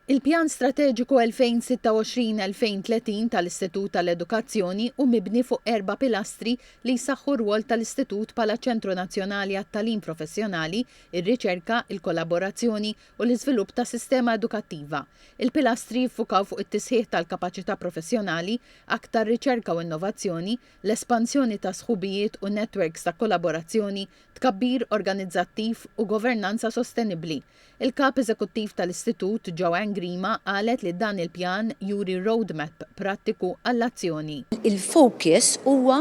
Il-Pjan Strateġiku 2026-2030 tal-Istitut tal-Edukazzjoni hu mibni fuq erba' pilastri li jsaħħu r-rwol tal-Istitut bħala ċentru nazzjonali għat-tagħlim professjonali, ir-riċerka, il-kollaborazzjoni u l-iżvilupp ta' sistema edukattiva. Il-pilastri jiffukaw fuq it-tisħiħ tal-kapaċità professjonali, aktar riċerka u innovazzjoni, l-espansjoni ta' sħubijiet u netwerks ta' kollaborazzjoni, tkabbir organizzattiv u governanza sostenibbli. Il-Kap Eżekuttiv tal-Istitut, Joanne Grima, qalet li dan il-pjan juri roadmap prattiku għall-azzjoni. Il-fokus huwa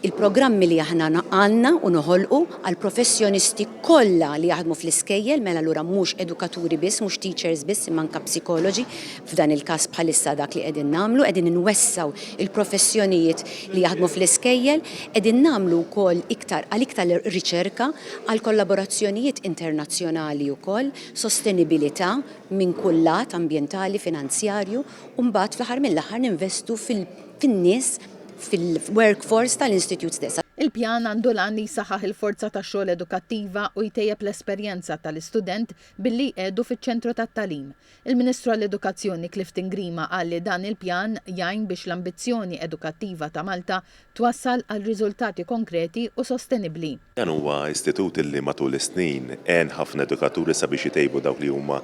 l-programmi li aħna għandna u noħolqu għall-professjonisti kollha li jaħdmu fl-iskejjel, mela allura mhux edukaturi biss, mhux teachers biss imma anke psikologi, F'dan il-każ bħalissa dak li qegħdin nagħmlu, qegħdin inwessgħu l-professjonijiet li jaħdmu fl-iskejjel, qegħdin nagħmlu wkoll iktar għal iktar riċerka, għal kollaborazzjonijiet internazzjonali wkoll, sostenibilità minn kull lat, ambjentali, finanzjarju, u mbagħad fl-aħħar mill-aħħar ninvestu fin-nies, fil-workforce tal-Institute stess. Il-pjan għandu l-għan li jsaħħaħ il-forza tax-xogħol edukattiva u jtejjeb l-esperjenza tal-istudent billi jqiegħdu fiċ-ċentru tat-tagħlim. Il-Ministru għall-Edukazzjoni Clifton Grima qal li dan il-pjan jgħin biex l-ambizzjoni edukattiva ta' Malta twassal għal riżultati konkreti u sostenibbli. Dan huwa istitut li matul is-snin għen ħafna edukaturi sabiex itejbu dawk li huma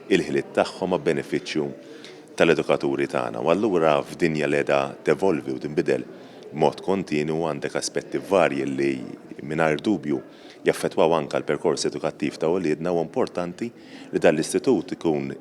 l-ħiliet tagħhom għab-benefiċċju tal-edukaturi tagħna u allura f'dinja li qiegħda tevolvi u tinbidel b'mod kontinwu għandek aspetti varji li mingħajr dubju jaffettwaw anke l-perkors edukattiv ta' uliedna huwa importanti li dan l-istitut ikun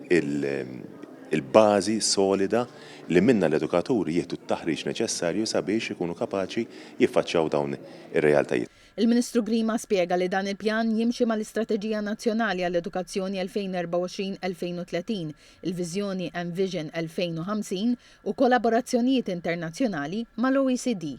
il-bażi solida li minnha l-edukaturi jieħdu t-taħriġ neċessarju sabiex ikunu kapaċi jiffaċċjaw dawn ir-realtajiet. Il-Ministru Grima spjega li dan il-pjan jimxi mal-Istrateġija Nazzjonali għall-Edukazzjoni 2024-2030, il-Viżjoni Envision 2050 u kollaborazzjonijiet internazzjonali mal-OECD.